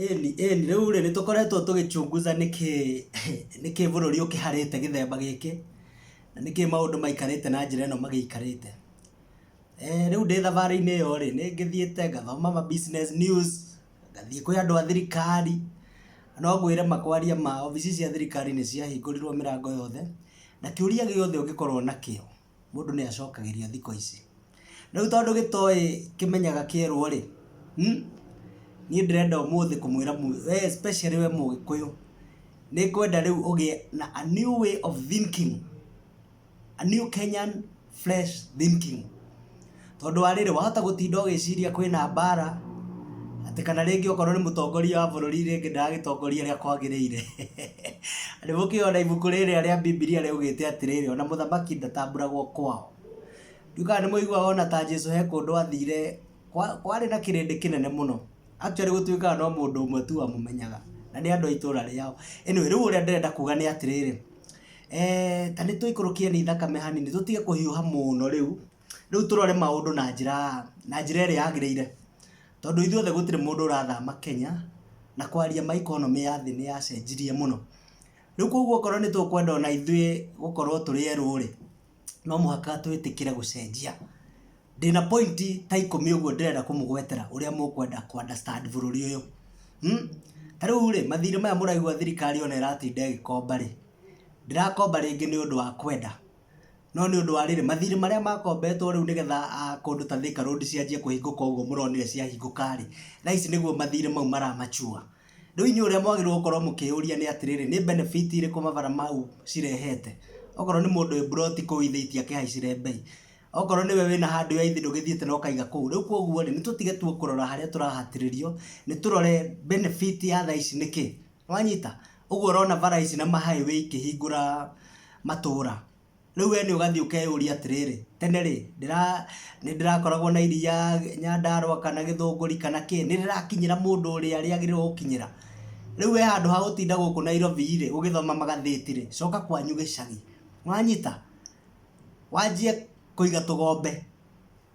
Ĩni ĩni, rĩu rĩ, nĩtũkoretwo tũgĩchunguza nĩkĩĩ nĩkĩĩ bũrũri ũkĩharĩte gĩthemba gĩkĩ, na nĩkĩĩ maũndũ maikarĩte na njĩra ĩno magĩikarĩte. Rĩu ndĩ thabarĩ-inĩ ĩyo rĩ, nĩngĩthiĩte ngathoma ma business news, ngathiĩ kwĩ andũ a thirikari, no ngwĩre ma kwaria ma, obici cia thirikari nĩciahingũrirwo mĩrango yothe, na kĩũria gĩothe ũngĩkorwo nakĩo, mũndũ nĩ acokagĩrio thikũ ici. Rĩu tondũ gĩtoĩ kĩmenyaga kĩerwo rĩ, hmm? niĩ ndĩrenda ũmũthĩ kũmwĩra we especially we mũgĩkũyũ nĩ ngwenda rĩu ũgĩe na a new way of thinking, a new Kenyan fresh thinking. tondũ wa rĩrĩ wahota gũtinda ũgĩciria kwĩna mbara atĩ kana rĩngĩ okorwo nĩ mũtongoria wa bũrũri rĩngĩ ndaragitongoria rĩa kwagĩrĩire nĩ mũkĩona ibuku rĩrĩa rĩa bibilia rĩaugĩte atĩrĩrĩ ona mũthamaki ndatambũragwo kwao ndiukaga nĩ mũiguaga ona ta jesu he kũndũ athire kwa- kwarĩ na kĩrĩndĩ kĩnene mũno actually gũtuĩkaga no mũndũ ũmwe tu wamũmenyaga na nĩ andũ a itũũra rĩao anyway rĩu ũrĩa ndĩrenda kuga nĩ atĩrĩrĩ Eh, ta nĩ tũikũrũkie nĩ thakame hanini tũtige kũhiũha mũno rĩu Rĩu tũrore maũndũ na njĩra na njĩra ĩrĩa yagĩrĩire, tondũ ithuothe gũtirĩ mũndũ ũrathama Kenya, na kwaria ma economy ya thĩ nĩyacenjirie mũno. Rĩu kuoguo okorwo nĩtũkwenda ona ithuĩ gũkorwo tũrĩ erũ-rĩ, no mũhaka twĩtĩkĩre gũcenjia. Ndĩna point ta ikũmi ũguo ndĩrenda kũmũgwetera ũrĩa mũkwenda kũ understand bũrũri ũyũ. Ta rĩu-rĩ, mathirĩ maya mũraigua thirikari ona ĩratinda ĩgĩkomba-rĩ, ndĩrakomba rĩngĩ nĩũndũ wa kwenda. No nĩ ũndũ wa rĩrĩ, mathirĩ marĩa makombetwo rĩu nĩgetha kũndũ ta Thĩka Road cianjie kũhingũka ũguo mũronire ciahingũka rĩ, thaa ici nĩguo mathirĩ mau mara mature. Rĩu inyuĩ ũrĩa mwagĩrĩirwo gũkorwo mũkĩyũria nĩ atĩrĩrĩ, nĩ benefit irĩkũ mabara mau cirehete? Okorwo nĩ mũndũ wĩ mburoti kũu ithe itingĩkĩhaicire mbei. Okorwo nĩwe wĩna handũ ya ithe ndũgĩthiĩte na ũkaiga kũu. Rĩu kũguo rĩ, nĩ tũtige tu kũrora harĩa tũrahatĩrĩrio, nĩ tũrore benefit ya thaa ici nĩ kĩ? Nĩwanyita? Ũguo ũrona bara ici na ma highway ikĩhingũra matũũra, rĩu we nĩ ũgathiĩ ũkeyũria atĩrĩrĩ, tene rĩ, ndĩra nĩndĩrakoragwo na iria Nyandarũa kana Gĩthũngũri kana kĩ, nĩrĩrakinyĩra mũndũ ũrĩa rĩagĩrĩirwo gũkinyĩra? Rĩu we handũ ha gũtinda gũkũ Nairobi rĩ, ũgĩthoma magathĩti rĩ, coka kwanyu gĩcagi. Nĩwanyita? Wanjie kũiga tũgombe.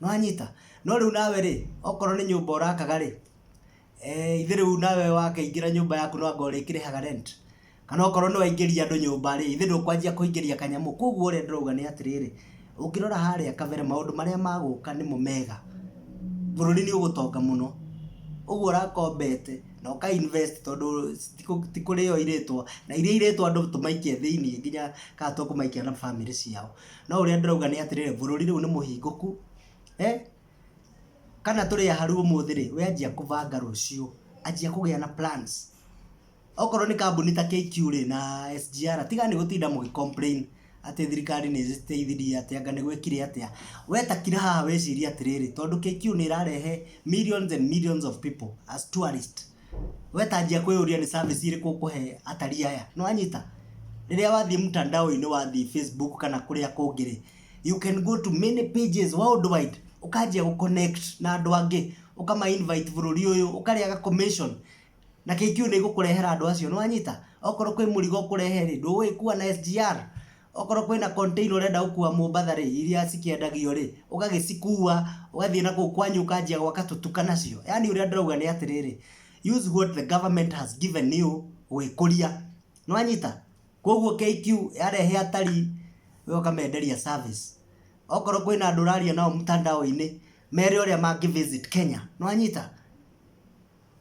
nĩwanyita no rĩu nawe rĩ okorwo nĩ nyũmba ũrakaga rĩ eh, ithe rĩu nawe wakĩingĩra nyũmba yaku no anga ũrĩkĩrĩhaga rent kana okorwo nĩ waingĩria andũ nyũmba rĩ ithe ndũkwanjia kũingĩria kanyamũ koguo ũrĩa ndĩrauga nĩ atĩrĩrĩ ũngĩrora harĩa kabere maũndũ marĩa magũka nĩmo mega bũrũri nĩ ũgũtonga mũno ũguo ũrakombete na ũka invest tondũ ti kũ- ti kũrĩo irĩtwa na iria irĩtwa andũ tũmaikia thĩinĩ nginya kana tũkũmaikia na bamĩrĩ ciao No ũrĩa ndĩrauga nĩ atĩrĩrĩ, bũrũri rĩu nĩ mũhingũku, kana tũrĩ aharu ũmũthĩ rĩ, we anjia kũbanga rũciũ, anjia kũgĩa na plans. Okorwo nĩ kambuni ta KQ rĩ, na SGR, tigai gũtinda mũgĩ complain atĩ thirikari nĩ ĩteithirie atĩa, anga nĩ gwekire atĩa. We ta kira haha wĩcirie atĩrĩrĩ, tondũ KQ nĩ ĩrarehe millions and millions of people as tourists. Wetanjia kwĩyũria nĩ service irĩkũ ũkũhe atari aya, nĩ wanyita? Rĩrĩa wathiĩ mtandao-inĩ wathiĩ Facebook kana kũrĩa kũngĩ rĩ, you can go to many pages world wide ũkanjia gũ connect na andũ angĩ, ũkama invite bũrũri ũyũ, ũkarĩaga commission na KQ nĩ ĩgũkũrehera andũ acio, nĩ wanyita? Okorwo kwĩ mũrigo ũkũrehe rĩ, ndũgũgĩkua na SGR? Okorwo kwĩna container ũrenda gũkua Mombatha rĩ, iria cikĩendagio rĩ, ũgagĩcikua, ũgathiĩ na kũu kwanyu ũkanjia gwaka tũtuka nacio. Yaani ũrĩa ndĩrauga nĩ atĩrĩrĩ, use what the government has given you gwĩkũria. Nĩwanyita? Koguo KQ yarehe atari, we ũkamenderia service. Okorwo kwĩna andũ ũraria nao mtandao-inĩ, mere ũrĩa mangĩ visit Kenya. Nĩwanyita?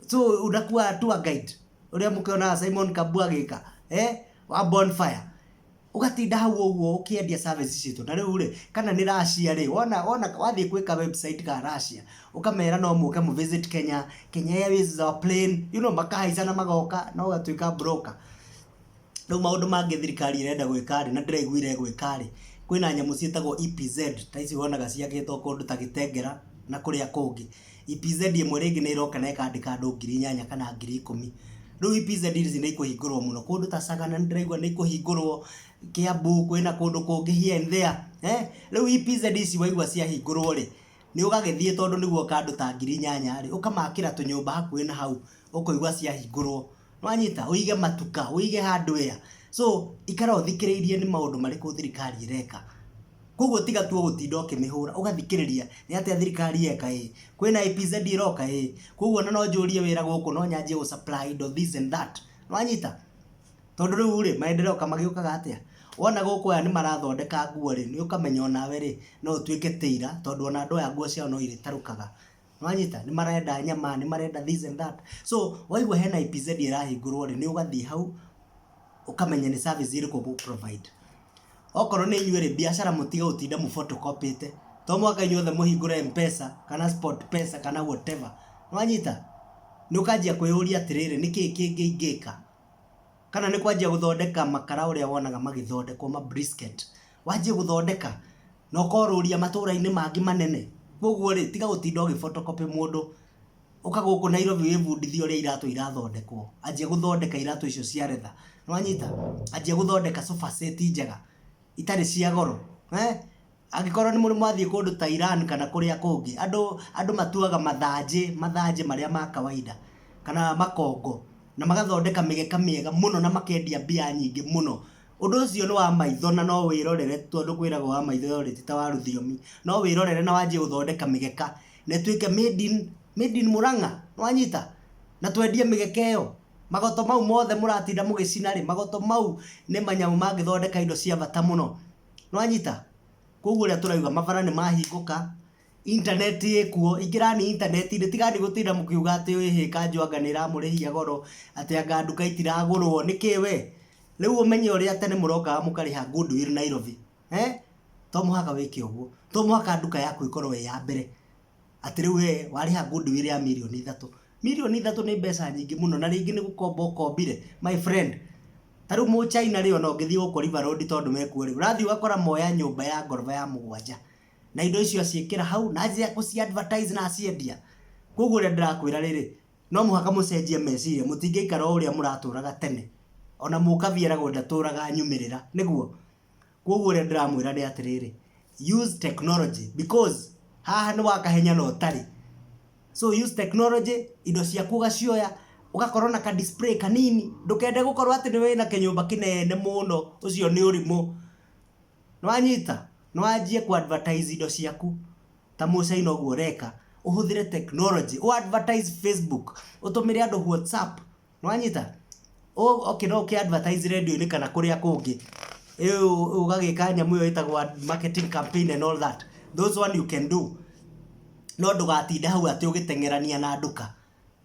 so unakuwa tour guide uria mukionaga Simon Kambu agika eh wa bonfire ugatinda hau ũguo ũkĩendia service citũ na rĩu rĩ kana nĩ Russia rĩ wona wona wathiĩ gwĩka website ka Russia ũkamera no mũke mu visit Kenya Kenya Airways is our plane you know makahaica na magoka na ũgatuĩka broker Rĩu maũndũ mangĩ thirikari ĩrenda gwĩka rĩ, na ndĩraiguire ĩgwĩka rĩ, kwĩna nyamũ ciĩtagwo EPZ, ta ici wonaga ciakĩtwo kũndũ ta Gĩtengera na kũrĩa kũngĩ. EPZ ĩmwe rĩngĩ nĩ ĩroka na ĩkandĩka andũ ngiri inyanya kana ngiri ikũmi. Rĩu EPZ ici nĩ ikũhingũrwo mũno, kũndũ ta Sagana nĩ ndĩraigua nĩ ikũhingũrwo, Kĩambu, kwĩna kũndũ kũngĩ here and there, eeh. Rĩu EPZ ici waigua ciahingũrwo rĩ, nĩ ũgagĩthiĩ tondũ nĩ guoka andũ ta ngiri inyanya rĩ, ũkamakĩra tũnyũmba hakuhĩ na hau, ũkũigua ciahingũrwo. Nĩwanyita? Ũige matuka, ũige handũ ea. So, ikara ũthikĩrĩirie nĩ maũndũ marĩkũ thirikari ĩreka. Koguo tiga tu o gũtinda ũkĩmĩhũra, ũgathikĩrĩria, nĩ atĩa thirikari yeka ĩ, kwĩna APZ ĩroka ĩ, koguo ona no njũrie wĩra gũkũ, no nyanjie gũ supply indo this and that. Nĩwanyita? Tondũ rĩu-rĩ, maendereo ka magĩũkaga atĩa? Wona gũkũ aya nĩmarathondeka nguo-rĩ, nĩũkamenya onawe-rĩ, no ũtuĩke tailor, tondũ ona andũ aya nguo ciao no irĩtarũkaga. Nĩwanyita? Nĩ marenda nyama, nĩ marenda this and that. So, waigua hena EPZ ĩrahingũrwo rĩ, nĩ ũgathiĩ hau, ũkamenya nĩ service ĩrĩkũ ũgũ provide. Okorwo nĩ inyuĩ rĩ, biacara mũtige gũtinda mũ photocopy-ĩte. To mũhaka inyuothe mũhingũre M-Pesa, kana Sportpesa, kana whatever. Nĩwanyita? Nĩ ũkanjia kwĩyũria atĩrĩrĩ, nĩ kĩĩ kĩngĩ ingĩka? Kana nĩ kwanjia gũthondeka makara ũrĩa wonaga magĩthondekwo ma brisket. Wanjie gũthondeka. na ũkorũria matũra-inĩ mangĩ manene. Kũguo rĩ, tiga gũtinda ũgĩ photocopy mũndũ, ũka gũkũ Nairobi wĩbundithie ũrĩa iratũ irathondekwo, anjia gũthondeka iratũ icio cia retha, nĩ wanyita? Anjia gũthondeka sofa set njega, itarĩ cia goro, eeh, angĩkorwo nĩ mũndũ mwathiĩ kũndũ ta Iran kana kũrĩa kũngĩ, andũ, andũ matuaga mathanjĩ, mathanjĩ marĩa ma kawaida, kana makongo, na magathondeka mĩgeka mĩega mũno na makendia mbia nyingĩ mũno. Ũndũ ũcio nĩ wa maitho na no wĩrorere tondũ kwĩragwo wa maitho yorĩ ti ta wa rũthiomi. No wĩrorere na wanjie gũthondeka mĩgeka na ĩtuĩke made in made in Murang'a, nĩ wanyita? Na twendie mĩgeka ĩyo. Magoto mau mothe mũratinda mũgĩcina rĩ, magoto mau nĩ manyamũ mangĩthondeka indo cia bata mũno. Nĩ wanyita? Kwoguo ũrĩa tũrauga mabara nĩ mahingũka. Intaneti ĩkuo, ingĩrani intaneti-inĩ, tigani gũtinda mũkiuga atĩ ũĩ hĩ kanjũ anga nĩ ĩramũrĩhia goro, atĩ anga nduka itiragũrwo, nĩkĩ we? Rĩu ũmenye ũrĩa tene mũrokaga mũkarĩha Goodwill Nairobi, eeh, to mũhaka wĩke ũguo, to mũhaka nduka yaku ĩkorwo ĩ ya mbere, atĩ rĩu we warĩha Goodwill ya mirioni ithatũ, mirioni ithatũ nĩ mbeca nyingĩ mũno, na rĩngĩ nĩ gũkomba ũkombire, my friend, ta rĩu Mũchina rĩ ona ũngĩthiĩ gũkũ River Road tondũ wekuo rĩ, ũrathiĩ ũgakora moya nyũmba ya ngoroba ya mũgwanja. na indo icio aciĩkĩra hau na njĩra ya kũci advertise na aciendia koguo ũrĩa ndĩrakwĩra rĩrĩ no mũhaka mũcenjie meciria mũtingĩikara o ũrĩa mũratũraga tene ona mũkabia eragwo ndatũraga nyumĩrĩra nĩguo koguo ũrĩa ndĩramwĩra nĩ atĩrĩrĩ use technology because haha nĩ wakahenya na ũtarĩ so use technology indo ciaku ũgacioya ũgakorwo na ka display kanini ndũkende gũkorwo atĩ nĩ wĩna kĩnyũmba kĩnene mũno ũcio nĩ ũrimũ Nĩwanyita? Nĩwanjie kũ advertise indo ciaku ta mũ China ũguo ũreka, ũhũthĩre technology, ũ advertise Facebook, ũtũmĩre andũ WhatsApp, nĩwanyita? Oke no ũkĩ advertise radio-inĩ kana kũrĩa kũngĩ, ũgagĩka nyamũ ĩyo ĩtagwo marketing campaign and all that, those one you can do, no ndũgatinde hau atĩ ũgĩteng'erania na nduka.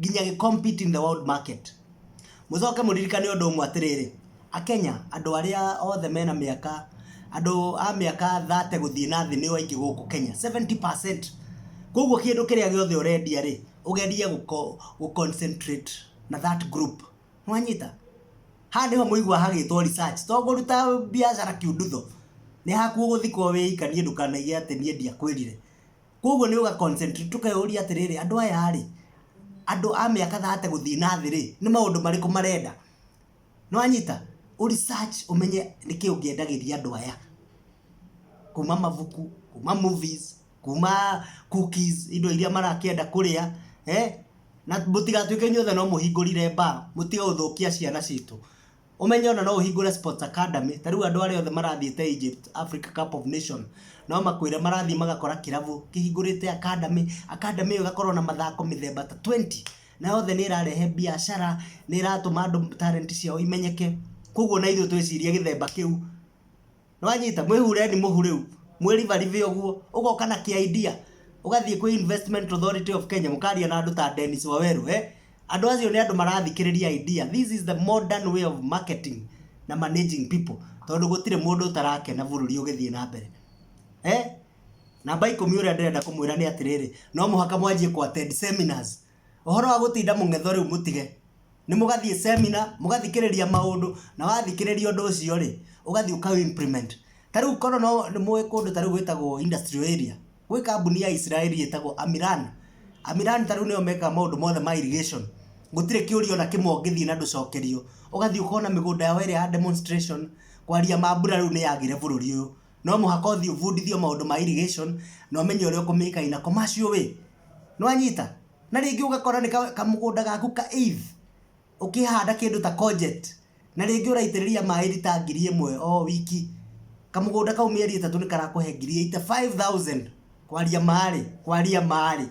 nginya gĩ compete in the world market. Mũcoke mũririkane ũndũ ũmwe atĩrĩrĩ, Akenya andũ arĩa othe mena mĩaka, andũ a mĩaka thate gũthiĩ na thĩ nĩo aingĩ gũkũ Kenya, seventy percent. Koguo kĩndũ kĩrĩa gĩothe ũrendia rĩ, ũgerie gũ concentrate na that group. Nĩ wanyita? Haha nĩho mũiguaga hagĩtwo research. To kũruta biacara kiundutho. Nĩ haku ũgũthikwo wĩika niĩ ndũkanaige atĩ niĩ ndiakwĩrire. Kwoguo nĩ ũga concentrate tũkeyũria atĩrĩrĩ, andũ aya rĩ, andũ a mĩaka thate gũthiĩ na thĩ rĩ, nĩ maũndũ marĩkũ marenda? Nĩ wanyita? Ũ research ũmenye nĩ kĩĩ ũngĩendagĩria andũ aya. Kuuma mabuku, kuuma movies, kuuma cookies, indo iria marakĩenda kũrĩa, na mũtigatuĩke inyuothe no mũhingũrire bar, mũtige gũthũkia ciana citũ. Ũmenye ona no ũhingũre sports academy, ta rĩu andũ arĩa othe marathiĩte Egypt Africa Cup of Nation, no makwĩre marathiĩ magakora kĩrabu kĩhingũrĩte academy, academy ĩyo ĩgakorwo na mathako mĩthemba ta twenty, na yothe nĩ ĩrarehe mbiacara, nĩ ĩratũma andũ talent ciao imenyeke, koguo ona ithuĩ twĩcirie gĩthemba kĩu, nĩwanyita mwĩhureni mũhu rĩu mwĩribaribe ũguo ũgoka na kĩ idea ũgathiĩ kwĩ investment authority of kenya mũkaria na andũ ta denis waweru eh? andũ acio nĩ andũ marathikĩrĩria idea this is the modern way of marketing na managing people tondũ gũtirĩ mũndũ ũtarakena bũrũri ũgĩthiĩ na mbere eh? namba ikũmi ũrĩa ndĩrenda kũmwĩra nĩ atĩrĩrĩ no mũhaka mwanjie kũ attend seminars ũhoro wa gũtinda mũng'etho rĩu mũtige nĩ mũgathiĩ semina mũgathikĩrĩria maũndũ na wathikĩrĩria ũndũ ũcio rĩ ũgathiĩ ũka implement ta rĩu korwo no nĩ mũĩ kũndũ ta rĩu gwĩtagwo industrial area gwĩ kambuni ya Israeli ĩtagwo Amiran Amiran ta rĩu nĩyo mekaga maũndũ mothe ma irrigation gũtirĩ kĩũria ona kĩmwe ũngĩthiĩ na ndũcokerio ũgathiĩ ũkona mĩgũnda yao ĩrĩa ya demonstration kwaria ma mbura rĩu nĩyagire bũrũri ũyũ no mũhaka ũthiĩ ũbundithio maũndũ ma irrigation na ũmenye ũrĩa ũkũmĩka in a commercial way. Nĩ wanyita? Na rĩngĩ ũgakora nĩ kamũgũnda gaku ka eighth ũkĩhanda kĩndũ ta courgette na rĩngĩ ũraitĩrĩria maĩ rita ngiri ĩmwe o wiki. Kamũgũnda kau mĩeri ĩtatũ nĩ karakũhe ngiri eighty five thousand. Kwaria ma rĩ, kwaria ma rĩ.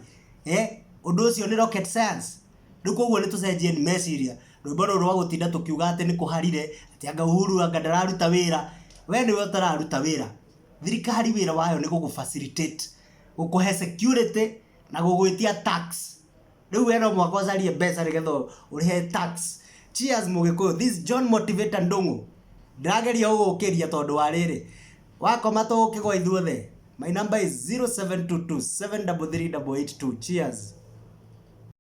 Ũndũ ũcio nĩ rocket science? Rĩu kwoguo nĩ tũcenjieni meciria. Rwĩmbo rũrũ rwa gũtinda tũkiuga atĩ nĩ kũharire, atĩ anga Uhuru anga ndararuta wĩra, we nĩwe ũtararuta wĩra. Thirikari wĩra wayo nĩ gũgũ facilitate, gũkũhe security na gũgwĩtia tax. Rĩu we no mũhaka ũcarie mbeca nĩgetha ũrĩhe tax. Cheers Mũgĩkũyũ, this is John Motivator Ndung'u. Ndĩrageria gũgũkĩria tondũ wa rĩrĩ, wakoma tũgũkĩgwa ithuothe. My number is 0722 733 882. Cheers.